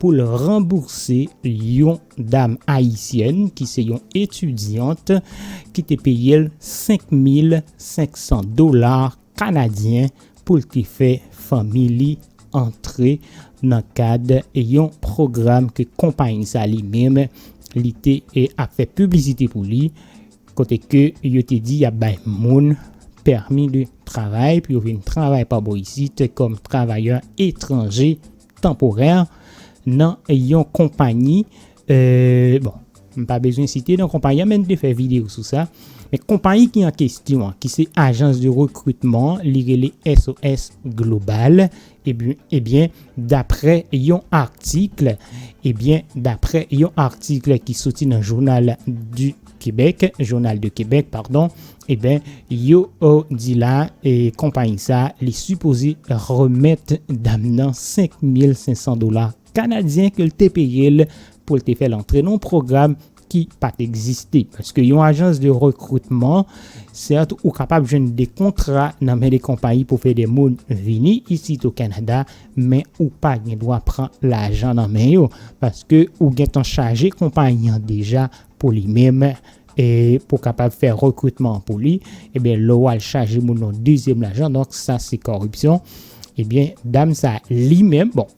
pou l ranbourse yon dam ayisyèn ki se yon etidyant ki te peye l 5 mil 500 dola kanadyen pou l te fè fanmi li antre nan kad yon pwogram ke konpayi sa li menm li te ap fè piblisite pou li kote ke yo te di y ap bay moun pèmi de travay pou yo vin travay pa bò isit kòm travayè etranje. tanporè nan yon konpayi, bon, m pa bezwen site non konpayi an men m te fè videyo sou sa, men konpayi ki an kesyon an ki se ajans de rekritman li rele SOS Global, ebyen daprè yon article, ebyen daprè yon article ki soti nan jounal du. Québec, Journal de Québec pardon, eben yo di la konpayi sa li sipoze remèt dam nan 5500 dola kanadyen ke l te peye l pou l te fè l antre nan yon pwogram ki pa t egziste. Paske yon ajans de rekritman, sèt ou kapab jwenn de kontra nan men de konpayi pou fè de moun vini isit o Kanada, men ou pa gen dwa pran lajan nan men yo, paske ou gentan chaje konpayi an deja pou li menm e pou kapab fè rekritman an pou li, ebyen lè wal chaje moun yon dezyèm lajan donk sa se kòripsyon, ebyen dam sa li menm bon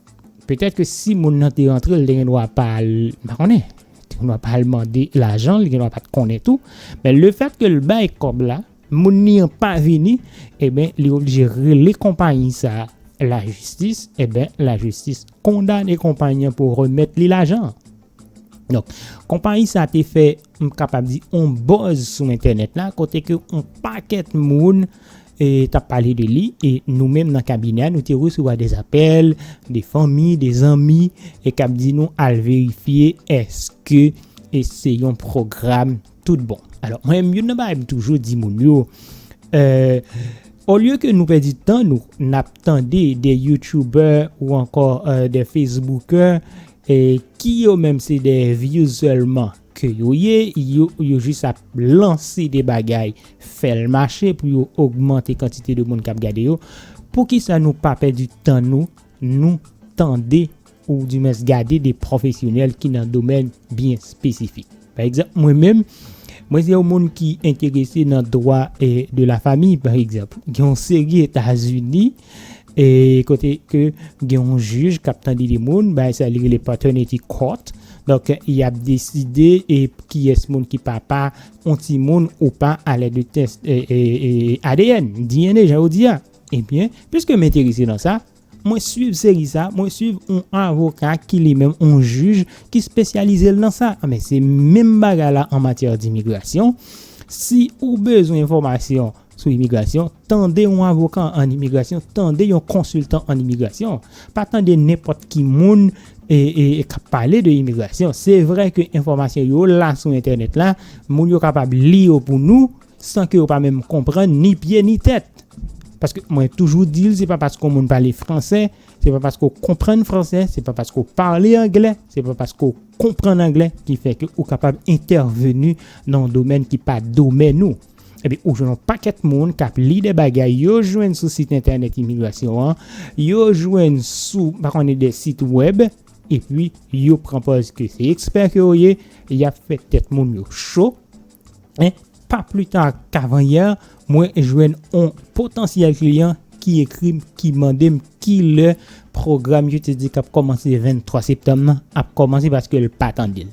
petèt ke si moun nan te rantre li te gen dwa pa al pa konnen, li te gen dwa pa al mande lajan li gen dwa pat konnen tou, men le fèt ke l bay kòb la moun li an pa vini ebyen li oblije rele konpayi sa lajistis ebyen lajistis kondane konpayi an pou remèt li lajan an. Donk, konpayi sa te fè, m kapab di, on bòz sou entènèt la, kote ke on pakèt moun t ap pale de li, e nou menm nan kabinè a, nou te resevwa de apèl, de fanmi, de zanmi, e k ap di nou al verifye èske e se yon pwogram tout bon. Alò, mwen menm, youn nan bagay m toujou di moun yo, olye ke nou pèdi tan nou, n ap tande de youtubè ou ankò de fesboukè, Ki yo menm se dè views selman ke yo ye, yo jis ap lanse de bagay fèl mache pou yo ogmante kantite de moun kap gade yo, poukisa nou pa pèdi tan nou, nou tande ou di mwens gade de profesyonèl ki nan domèn byen spesifik. Pa egzanp mwen menm, mwen se yon moun ki enterese nan dwa de la famiy pa egzanp, gen yon seri etazini, E kote ke gen yon jij kap tande de moun, bay sa li rele paternity court. Donk, y ap deside e kiyès moun ki papa yon timoun ou pa alè de tès ADN, DNA jan yo di a. Ebyen, piske m enterese nan sa, mwen swiv seri sa, mwen swiv yon avoka ki li menm yon jij ki spesyalize l nan sa. Anben, se menm bagay la an matyè dimigrasyon. Si ou bezwen enfòmasyon sou imigrasyon, tande yon avoka an imigrasyon, tande yon konsiltan an imigrasyon, pa tande nenpòt ki moun k ap pale de imigrasyon. Se vre ke enfòmasyon yo la sou entènèt la, moun yo kapab li yo pou nou san ke yo pa menm konprann ni pye ni tèt. Paske mwen toujou di l, se pa paske yon moun pale franse, se pa paske ou konprann franse, se pa paske ou pale angle, se pa paske ou konprann angle ki fè ke ou kapab entèveni nan yon domèn ki pa domèn ou. Epi ou jwenn yon pakèt moun k ap li de bagay yo jwenn sou sit entènèt imigrasyon an, yo jwenn sou pa konnen de sit wèb, epi yo pran pòz ke se ekspè ke yo ye, y ap fè tèt moun yo cho. E, pa pli ta kavanyè, mwen jwenn yon potansyèl kliyan ki ekri m, ki mande m ki lè pwogram yo te di k ap kòmanse 23 septanm nan ap kòmanse paske l pa tande l.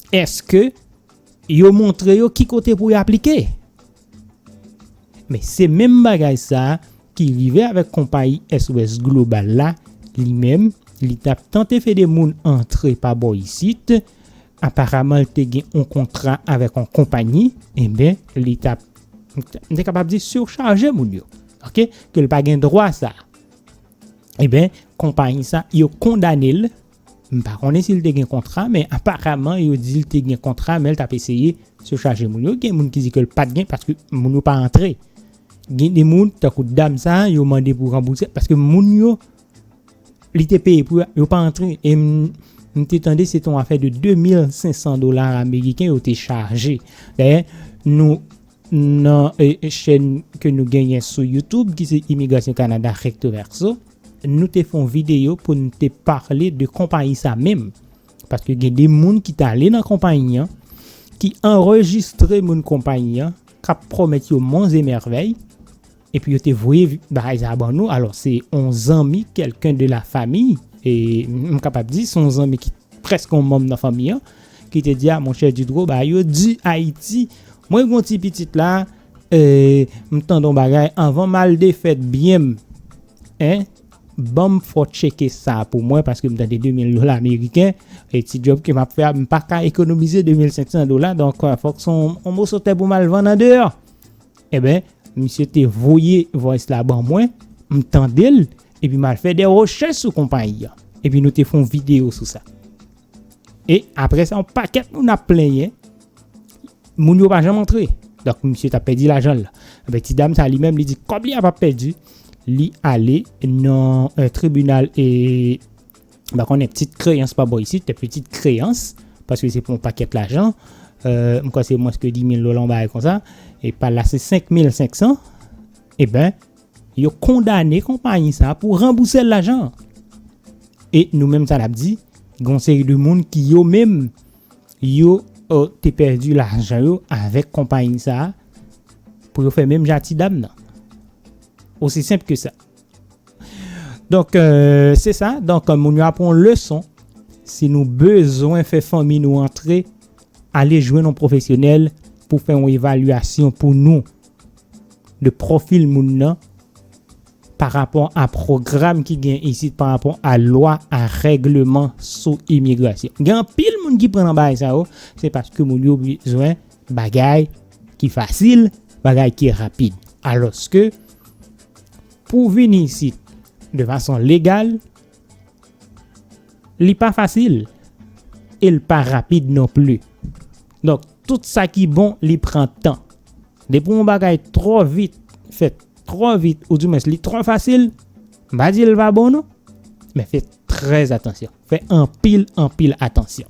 Eske yo montre yo ki kote pou yo aplike? Men se menm bagay sa ki rive avèk konpayi SOS Global la, li menm li tap tante fede moun antre pa bò isit, aparaman li te gen yon kontra avèk yon konpayi, enben li tap, m te kapab di surchaje moun yo, ok, ke li pa gen dwa sa. Enben konpayi sa yo kondane l, M pa konnen si l te gen kontra men aparaman yo di l te gen kontra men l t ap eseye se chaje moun yo. Gen moun ki di ke l pa t gen paske moun yo pa antre. Gen de moun tankou dam sa a yo mande pou ranbouse paske moun yo li te peye pou yo pa antre. E m te tande se te yon afè de 2500 dola ameriken yo te chaje. Dayè nou nan chèn ke nou genyen sou youtube ki se Imigrasyon Kanada Recto Verso. Nou te fon video poun te parle de konpayi sa menm paske gen de moun ki tale nan konpayi an ki anrejistre moun konpayi an kap promet yo monts et merveilles epi yo te voye bagay sa ban nou alors se on zanmi quelqu'un de la famille e m kapab di son zanmi ki preske on manm nan fanmi an ki te di a monchè Dudro bagay yo du Haïti mwen gon ti pitit la Eeh m tande yon bagay avan m al defèt byen m en banm fò tcheke sa pou mwen paske m tande 2000 dola meriken e ti djòb ke m ap fè a m pa ka ekonomize 2500 dola donk fòk s on moso tè pou m al vann andeyò eben misye te voye voice la ban mwen m tande l epi m al fè de rechèch sou konpayi an epi nou te fon videyo sou sa E apre sa yon pakèt moun ap plenyen, moun yo pa janm antre. Donk misye ta pèdi lajan la. Anbe ti dam sa li menm li di kòb li a pa pèdi, li ale nan euh, tribunal e ba konnen ptit kreyans pa bo isit, te ptit kreyans, paske se pou yon pakèt lajan, euh, m kwa se mwens ke 10 mil dola yon bagay konsa, e pa la se 5 mil 500, e ben, Yo kondane konpayi sa pou ranbouse l lajan an. E nou menm sa n ap di, gen yon seri de moun ki yo menm yo te pèdi lajan yo avèk konpayi sa pou yo fè menm jan a ti dam nan. Osi senp ke sa. Donk se sa, donk moun yo ap pran yon leson si nou bezwen fè fanmi nou antre ale jwenn yon pwofesyonèl pou fè yon evalyasyon pou nou. de profil moun nan pa rapò a program ki gen isit pa rapò a lwa a regleman sou imigrasyon. Gen anpil moun ki pran nan bagay sa yo, se paske moun yo bezwen bagay ki fasil, bagay ki rapid. Aloske pou vini isit de fason legal, Li pa fasil e l pa rapid non pli. Donk, tout sa ki bon li pran tan. Depi yon bagay twò vit, fèt twò vit ou dimwens li twò fasil, m pa di l pa bon non, men fè trè atansyon, fè anpil anpil atansyon.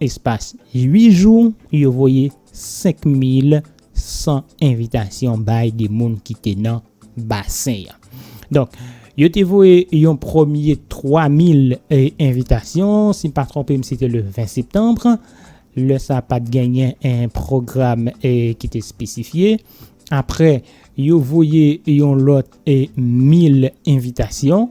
Espas 8 jou, yo voye 5100 envitasyon bay de moun ki te nan basen an. Donk, yo te voye yon premye 3000 envitasyon, si m pa twonpe m se te le 20 septanbre, lè sa a pa t genyen pwogram ki te espesifye. Apre, yo voye yon lòt 1000 envitasyon,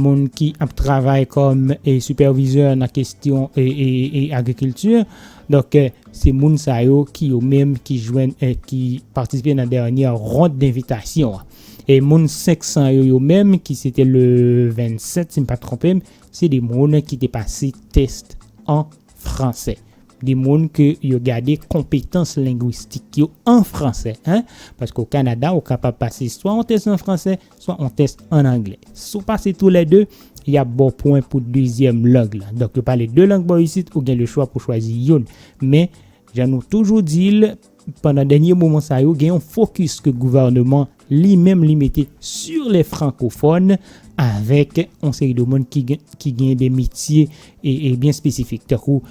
moun ki ap travay kòm e sipèvizè nan kestyon e, e, e agrikilti. Donk eh, se moun sa yo ki yo menm ki jwenn eh, ki patisipe nan dènyè rond denvitasyon an. E moun 500 yo yo menm ki se te le 27 si m pa twonpe m, se de moun ki te pase test an fransè. De moun ke yo gade konpetans lengwistik yo an fransè. Paske o Kanada ou kapab pase swa yon test an fransè, swa yon tès an anglè. Si w pase tou lè de, y ap ba w pwen pou dezyèm lang lan. Donk, yo pale de lang bò isit, ou gen lechwa pou w chwazi youn. Men, jan nou toujou di l, pandan dènye moman sa yo, gen yon fokis ke gouvèneman li menm li mete sur les francophones avèk yon seri de moun ki gen de metye byen espesifik. Tankou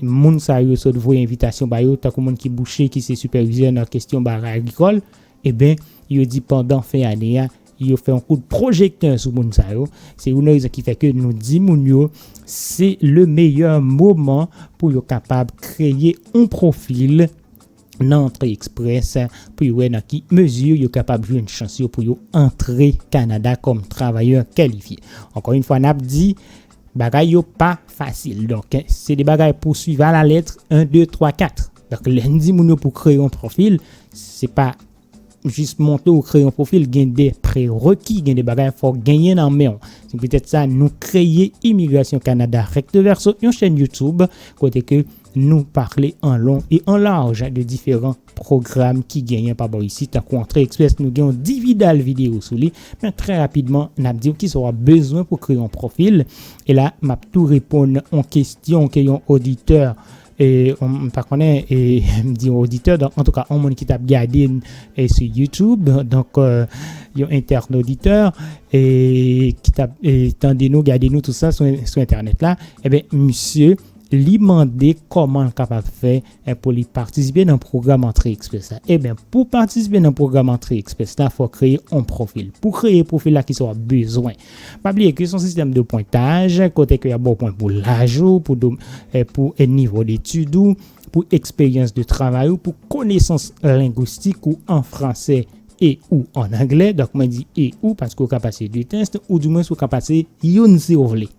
moun sa yo sot voye envitasyon ba yo, tankou moun ki bouche, ki se sipèvizè nan kestyon bagay agrikòl, Eben, yo di pandan fen ane a, yo fè yon kout pwojektè sou moun sa yo. Se youn nan rezon ki fè ke nou di moun yo, se le meyè moman pou yo kapab kreye yon pwofil nan antre ekspres pou yo wè nan ki mezi yo kapab jwenn chans yo pou yo antre Kanada kòm travayè kalifye. Ankò yon fwa n ap di. Bagay yo pa fasil donk se 2 bagay pou swiv a la lettre 1 2 3 4 donk lè n di moun yo pou kreye yon profil se pa jis monte ou kreye yon profil gen 2 pre reki gen 2 bagay fòk genyen nan menw se petèt sa nou kreye imigrasyon Canada recto verso yon chèn youtube kote ke nou parle an long e an large de diferan pwogram ki genyen pa bò isit tankou antre express nou gen yon dividal video sou li men trè rapidman nap diw kisa wap bezwen pou kreye yon profil e la map tou reponn yon kestyon ke yon oditè e m pa konnen e m di yon oditè donk antouka yon moun ki tap gade n e sou youtube donk yon entènoditè e ki tap tande nou gade nou tout sa sou entènèt la e ben misye li mande koman l kapab fè e pou li patisipe nan pwogram antre express la eben pou patisipe nan pwogram antre express la fò kreye on profil pou kreye profil la kisa wap bezwen pa bliye ke son sistèm de pwentaj kote ke yap baw pwen pou laj ou pou dom pou nivo detid ou pou eksperyans de travay ou pou konesans lengwistik ou an fransè e ou an anglè donk mwen di e ou paske ou ka pase 2 test ou di mwens ou ka pase youn si ou vle.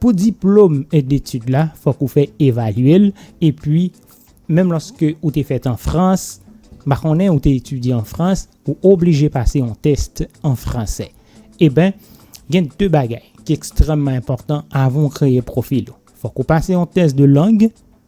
Pou diplom detid la fòk ou fè evalye l epi menm lòske ou te fèt an Frans m pa konnen ou te etidye an Frans ou oblije pase yon test an fransè eben gen 2 bagay ki ekstrèmman enpòtan avan ou kreye pwofil ou fòk ou pase yon test de lang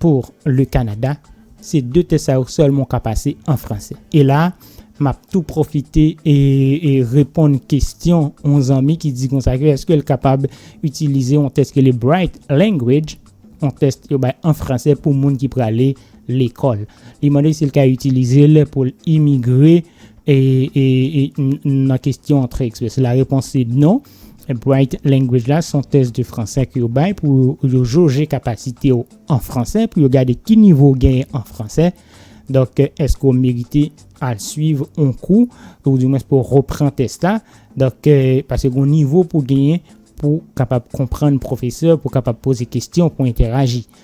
Pour le Canada, se 2 tès sa yo sèlman ou ka pase an franse. E la, m ap tou pwofite reponn kesyon yon zanmi ki di konsa ke eske l kapab itilize yon tès ki rele Bright Language, yon tès yo bay an franse pou moun ki prale lekòl. Li mande si l ka itilize l pou l imigre nan kesyon antre eksprès. La repons se non. Bright Language la son tès de fransè ke yo bay pou yo joje kapasite w an fransè, pou yo gade ki nivo w genyen an fransè. Donk, èske w merite al swiv yon kou, ou di mwen pou w repran tès la. Donk, pase gon nivo pou w genyen pou kapab konprann pwofesè, pou kapab poze kestyon, pou entèraji.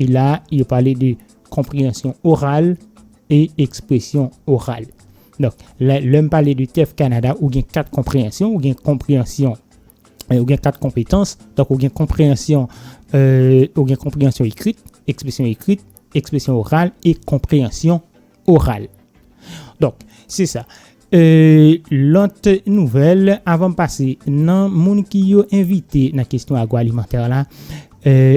E la a, yo pale de konpreyansyon oral e ekspresyon oral. Donk, lè, lè m pale de TEF Kanada, ou gen kat konpreyansyon, ou gen konpreyansyon, ou gen kat konpetans. Donk, ou gen konpreyansyon, ou gen konpreyansyon ekrit, ekspresyon ekrit, ekspresyon oral e konpreyansyon oral. Donk, se sa. Lòt nouvèl, avan m pase nan moun ki yo envite nan kesyon agwalimantè la,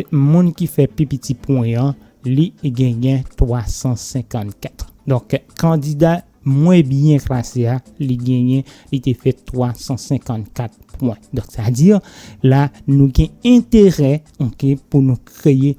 moun ki fè pi piti pwen an, li genyen 354. Donk, kandida mwen byen klase a, li genyen, li te fè 354 pwen. Donk, sa di, la nou gen enterè pou nou kreye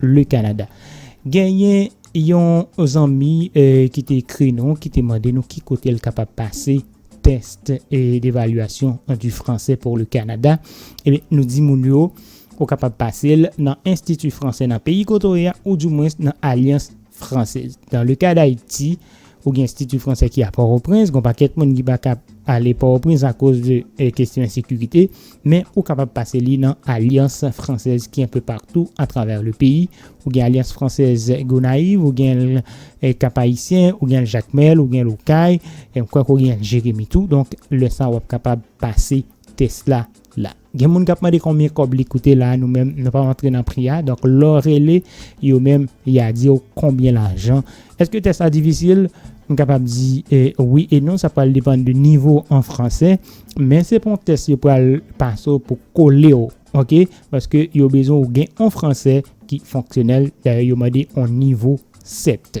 Le Canada. Genyen yon zanmi ki te ekri nou, ki te mande nou ki kote l kapab pase test d'evaluation du français pour le Canada. Ebyen, eh nou di moun yo, ou kapab pase l nan Institut Français nan peyi kote w ye a, ou du moins nan Alliance Française. Dans le cas d'Haïti, Ou gen Institut Français ki a Port-au-Prince, gon pakèt moun ki pa ka ale Port-au-Prince a koz de kestyon ensekirite, men ou kapab pase li nan Alliance Française ki enpe partou a travè le peyi. Ou gen Alliance Française Gonaïves, ou gen l Cap Haïtien, ou gen l Jacmel, ou gen l Okay, m kwè ke w gen l Jérémie tou. Donk lè sa wap kapab pase tès la la. Gen moun kap mande konbyen kòb li koute la nou menm nou pa antre nan pri a donk lè w rele yo menm ya di w konbyen lajan èske tès la difisil m kapab di wi e non sa pral depann de nivo w an fransè men se pa yon tès yo pral pase w pou kole w ok paske yo bezwen w gen yon fransè ki fonksyonèl dayè yo mande yon nivo 7.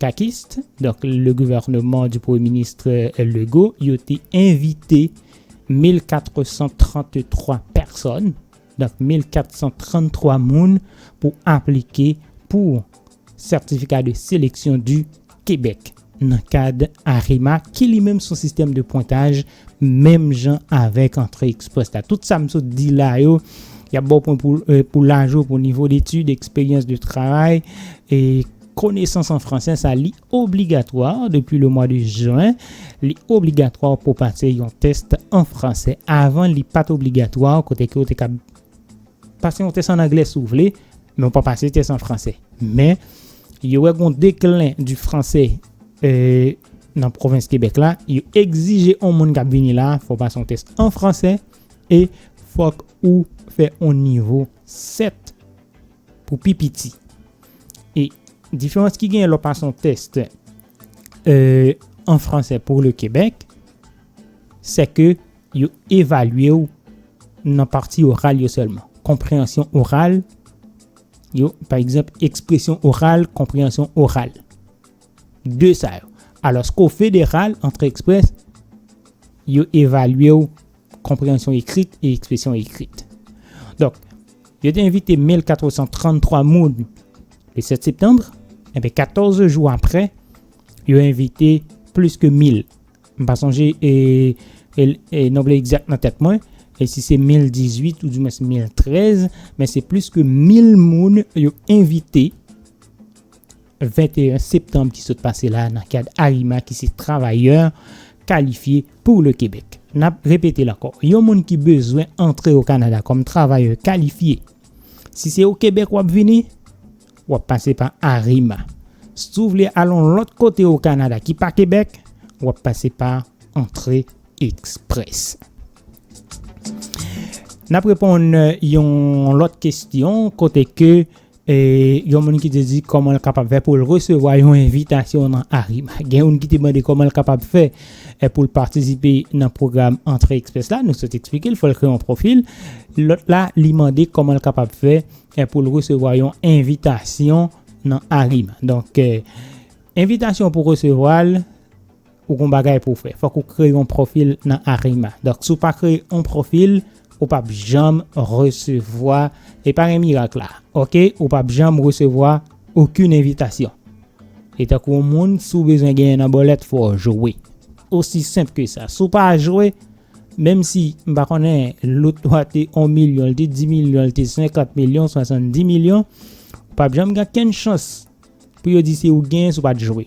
Kakist, donk le gouvernement du premye ministre Legault yo te envite 1433 pèsòn, donk 1433 moun pou aplike pou Certificat de Sélection du Québec nan kad AREMA ki li menm son sistèm de pwentaj menm jan avèk antre express la. Tout sa m sot di la yo, y ap ba w pwen pou laj ou, pou nivo detid, eksperyans de travay, e. Konesans an franse sa li obligatwa depi le mwa de jen, li obligatwa pou w pase yon tès an franse. Avan li pat obligatwa kote ke ou te ka pase yon tès an angle si w vle, men ou pa pase tès an franse. Men yo wè gon deklin di franse nan pwovens Kebèk la, yo egzije yon moun kap vini la fò w pase yon tès an franse e fòk ou fè yon nivo 7. pou pi piti. E diferans ki genyen lè w pase yon test an franse pou le Québec, se ke yo evalye w nan pati oral yo sèlman. Konpreyansyon oral yo, pa egzanp, ekspresyon oral, konpreyansyon oral. De sa yo. Alòske w federal, antre ekspres, yo evalye w. konpreyansyon ekrit e ekspresyon ekrit. Donk, yo te envite 1433 moun le 7 septanbre, enbe 14 jou apre, yo envite plis ke 1000. M pa sonje e, e, e nombre egzak nan tèt mwen, e si se 1018 ou di mwen se 1013, men se plis ke 1000 moun yo envite, 21 septanm ki sot pase la nan kad ARIMA ki se Travayè Kalifye Pou Le Kebèk. N ap repete l ankò, yon moun ki bezwen antre o Kanada kòm Travayè Kalifye, si se o Kebèk w ap vini, w ap pase pa ARIMA. Si w vle al yon lòt kote o Kanada ki pa Kebèk, w ap pase pa Antre Express. N ap reponn yon lòt kesyon kote ke yon moun ki te di kòman l kapab fè pou l resevwa yon envitasyon nan Arrima. Gen youn ki te mande kòman l kapab fè pou l patisipe nan pwogram Antre Express la. Nou sot eksplike l fò l kreye yon pwofil. Lòt la li mande kòman l kapab fè pou l resevwa yon envitasyon nan Arrima. Donk, envitasyon pou resevwa l, Ou gon bagay pou w fè. Fòk ou kreye yon pwofil nan Arima. Donk si w pa kreye yon pwofil, ou pap janm resevwa, e pa gen mirak la. Ok, ou pap janm resevwa okenn envitasyon. E tankou yon moun, si w bezwen genyen nan bòlèt, fò w jwe. Osi senp ke sa. Si w pa jwe, menm si, m pa konnen, loto a te 1 milyon, li te 10 milyon, li te 50 milyon, 70 milyon, ou pap janm gen okenn chans pou yo di se ou genyen si w pa t jwe.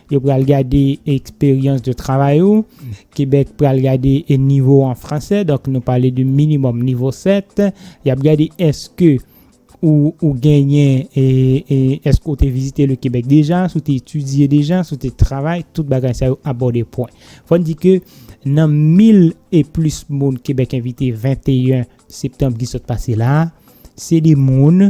Yo pral gade expérience de travail ou, Québec pral gade nivo ou an fransè, donk nou pale de minimum nivo 7, yap gade eske ou ou genyen eske ou te vizite le Québec deja, si w te etidye deja, si w te travay, tout bagay sa yo abòde pwen. Fò n di ke nan 1000 e plis moun Québec envite 21 septanm ki sot pase la, se de moun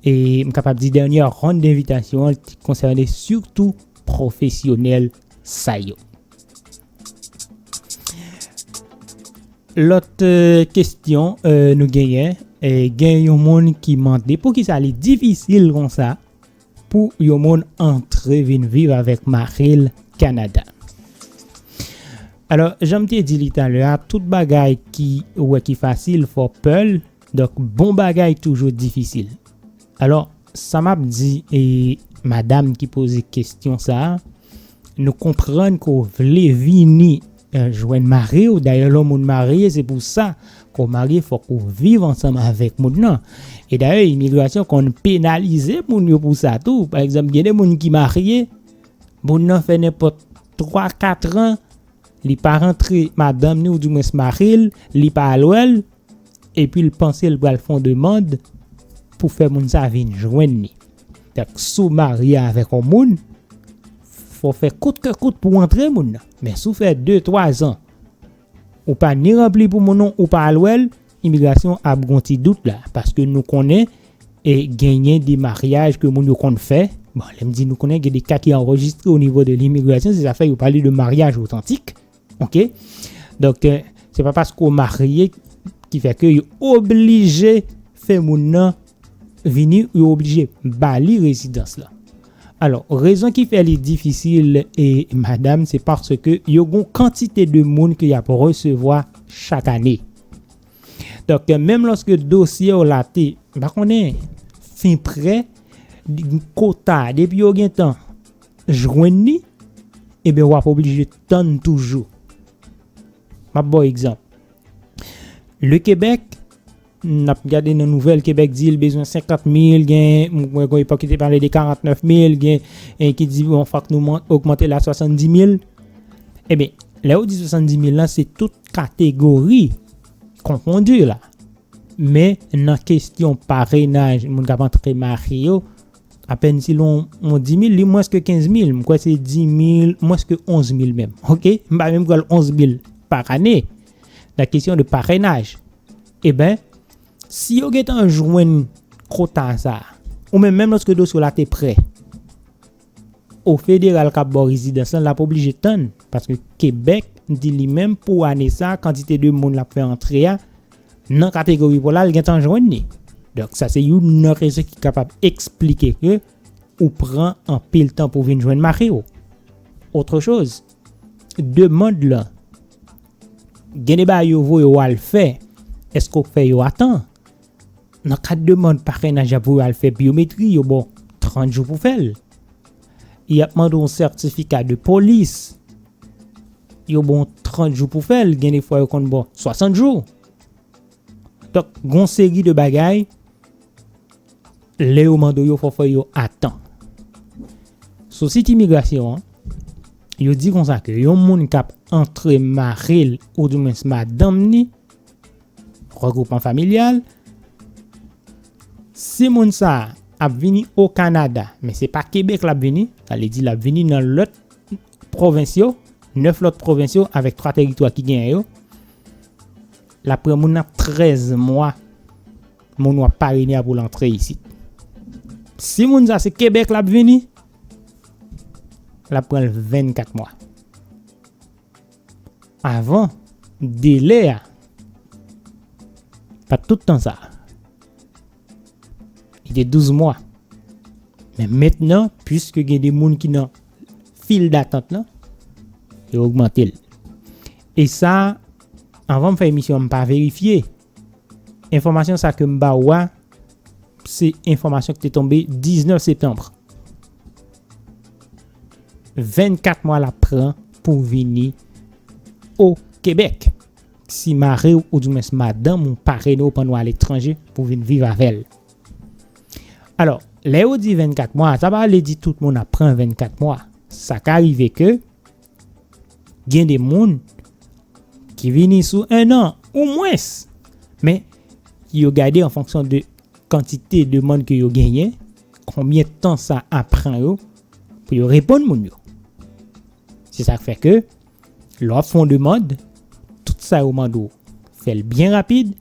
E m kapab di dènyè ronn denvitasyon an te konsène sitou pwofesyonèl sa yo. Lòt kestyon nou genyen, gen yon moun ki mande poukisa li difisil konsa pou yon moun antre vin viv avèk mari l Kanada. Alò, jan m te di li talè a, tout bagay ki ou wè ki fasil fò w pè l, Donk bon bagay toujou difisil. Alò sa map di e madam ki poze kestyon sa, nou konprann ke w vle vini jwenn mari w, dayè lè w moun marye se pou sa ke w marye fòk ou viv ansanm avèk moun nan. E dayè imigrasyon konn penalize moun yo pou sa tou, pa egzanp gen de moun ki marye, moun nan fè nenpòt 3, 4 an li pa rantre madanm ni ou di mwens mari l, li pa al wè l, Epi l panse l pral fè yon demand pou fè moun sa vin jwenn li. Donk si w marye avèk yon moun, fò w fè kout ke kout pou w antre moun nan. Men si w fè de, twa zan ou pa ni ranpli pou moun ou pa al wè l, imigrasyon ap gen yon ti dout la. Paske nou konnen genyen de maryaj ke moun yo konn fè. Bon, lè m di nou konnen, gen de ka ki anrejistre onivo de limigrasyon, se sa k fè yo pale de maryaj otantik. Ok, donk se pa paske ou marye ki fè ke yo oblije fè moun nan vini, yo oblije ba li rezidans la. Alò, rezon ki fè li difisil e madam, se paske yo gon kantite de moun ke y ap resevwa chak ane. Donk, menm loske dosye ou la te, m pa konnen, fin prè, kota, depi yo gen tan, jwenn li, ebyen w ap oblije tann toujou. M ap ba w egzanp. Le Kebèk, n ap gade nan nouvèl Kebèk di l bezwen 50 mil, gen mwen kon epòk ki te pale de 49 mil, gen en ki di bon fòk nou ogmante l a 70 mil. Ebyen, lè ou di 70 mil lan, se tout kategori konfondi la. Men nan kesyon parenaj moun k ap antre marye yo, Apèn si lon yon dimil li mwens ke kenz mil, m kwè se dimil, mwens ke onz mil menm. Ok, m pa menm pral onz mil pa ane, nan kesyon de parennaj. Eben, si yo gentan jwenn kota sa, ou menm menm lòske dosye w la te prè, o federal k ap ba w rezidans lan l ap oblije tann, paske Kebèk di li menm pou ane sa kantite de moun l ap fè antre a, Nan kategori pola l gen tan jwenn li. Donk sa se youn nan rezon ki kapab eksplike ke ou pran anpil tan pou vin jwenn mari w. Otre choz, demand lan gen de bagay yo voye w al fè, eske w fè yo a tan? Nan kad demand parenaj y ap voye w al fè byometri, yo ba w 30 jou pou fè l. Y ap mande w yon sètifika de polis. Yo ba w 30 jou pou fè l, gen de fwa yo konn ba w 60 jou. Donk, gon seri de bagay, lè yo mande w yo, fò w fè yo a tan. Sou sit imigrasyon an, yo di konsa ke yon moun k ap antre mari l ou di mwens madanm ni, regwoupman familyal, si moun sa a ap vini o Kanada, men se pa Kebèk l ap vini, sa vle di l ap vini nan lòt, pwovens yo, 9 lòt pwovens yo avèk 3 teritwa ki genyen yo, l ap pran moun nan 13 mwa moun w ap parene a pou l antre isit. Si moun sa se Kebèk l ap vini, l ap pran l 24 mwa. Avan, delè a, pa tout tan sa a. Li te 12 mwa. Men mentnan, pwiske gen de moun ki nan fil datant lan, yo ogmante l. E sa, anvan m fè emisyon an, m pa verifye. Enfòmasyon sa ke m ba ou a, se enfòmasyon ki te tonbe 19 septanbre. 24 mwa l ap pran pou vini o Kebèk. si mari w oudimwens madanm ou pa rele w pandan w aletranje pou w vin viv avè l. Alò, lè yo di 24 mwa, sa pa vle di tout moun ap pran 24 mwa. Sa ka rive ke gen de moun ki vini sou 1 an ou mwens. Men, yo gade an fonksyon de kantite demann ke yo genyen, konbyen tan sa ap pran yo pou yo reponn moun yo. Se sa k fè ke Lè w ap fè yon demand, tout sa yo mande w, fè l byen rapid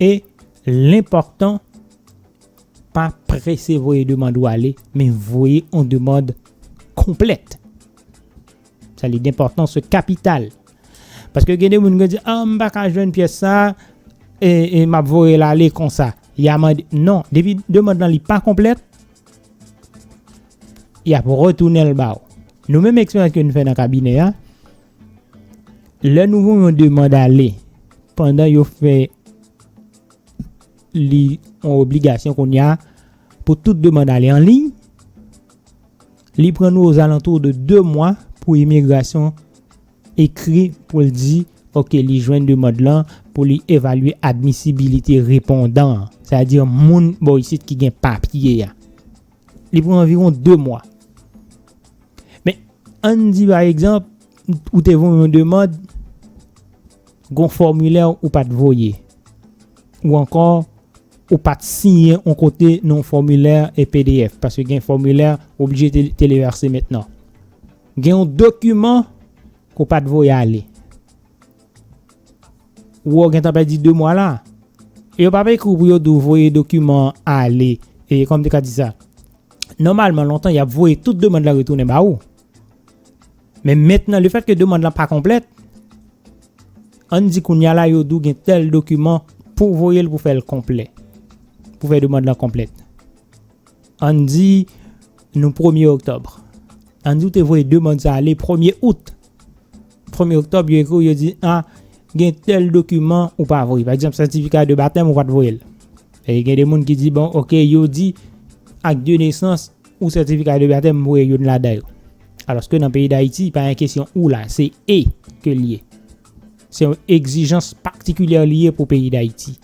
e lenpòtan pa prese voye demand ou ale men voye yon demand konplèt. Sa li denpòtans yo kapital. Paske gen de moun ki di, ah m pa ka jwenn pyès sa e m ap voye l ale konsa. Ya mande, non, depi demand lan li pa konplèt, y ap retounen l ba ou. Nou menm eksperyans ke nou fè nan kabinè a, lè nou voun yon demand ale, pandan yo fè li an obligasyon kounye a, pou tout demand ale an liy, li pran nou ozalantou de 2 mwa pou imigrasyon ekri pou l di ok li jwenn demand lan pou li evalye admisibilite repondan an, sètadi moun bò isit ki gen papye a. Li pran anviwon 2 mwa. Men, ann di pa egzanp, ou te voye yon demand, gon fòmilè ou pa t voye. Ou ankò, ou pa t siyen yon kote nan yon fòmilè pdf, paske gen fòmilè ou oblije televerse mentnan. Gen yon dokiman ke w pa t voye ale. Ou wè w gentan pèdi 2 mwa la. E yo pa p ekri w pou yo di w voye dokiman an ale. E kòman m te ka di sa? Nòmalman lontan y ap voye tout demand lan retounen ba ou. Men mentnan lefètke demand lan pa konplèt, ann di kounye a la yo di w gen tèl dokiman pou w voye l pou fè l konplè. Pou fè demand lan konplèt. Ann di nou premye oktòb. Ann di ou te voye demand sa ale premye out. Premye oktòb yo ekri ou yo di a gen tèl dokiman ou pa voye. Pa egzanp sètifika de batèm ou pa te voye l. E gen de moun ki di bon ok yo di ak de nesans ou sètifika de batèm m voye youn ladan yo. Alòske nan peyi Dayiti pa gen kesyon ou la se e ke l ye. Se yon egzijans patikilyè li ye pou peyi Dayiti.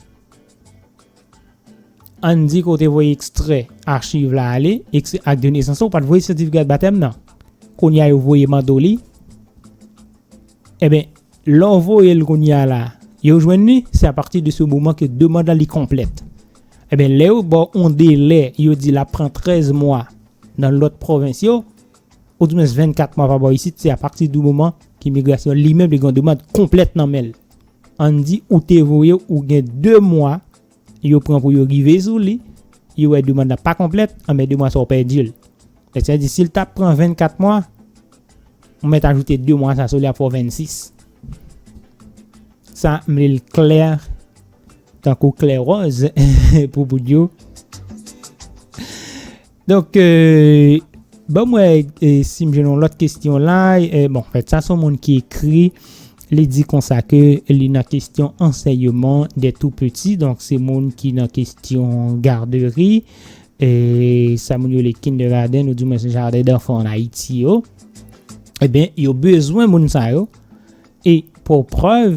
Ann di ke w te voye ekstrè achiv la ale, ekstrè ak de nesans la, ou pa t voye sètifikad batèm nan. Kounye a yo voye mande w li. Enben, lè w voye l kounye a la, yo jwenn li, se apati de se moman ke demand la li konplèt. Enben, lè yo ba w yon delè, yo di l ap pran 13 mwa nan lòt pwovens yo, Odimwens 24 mwa pa bò isit, se apati di moman ke migrasyon li menm li gen yon demand konplèt nan men l. Ann di ou te voye ou gen 2 mwa yo pran pou yo rive sou li, yo wè demand la pa konplèt, anben 2 mwa sa ou pèdi l. Donk sa vle di si l ta pran 24 mwa, ou mèt ajoute 2 mwa sa sou li ap fè w 26. Sa m li l klè tankou klè wòz pou moun yo. Donk banm wè sim jwenn yon lòt kestyon la, bon fèt sa son moun ki ekri li di konsa ke li nan kestyon ansèyeman dè tou peti donk se moun ki nan kestyon garderi e sa moun yo le kinderaden nou di mwen se jaden danfan an Ayiti yo. Ebyen yo bezwen moun sa yo e pou prèv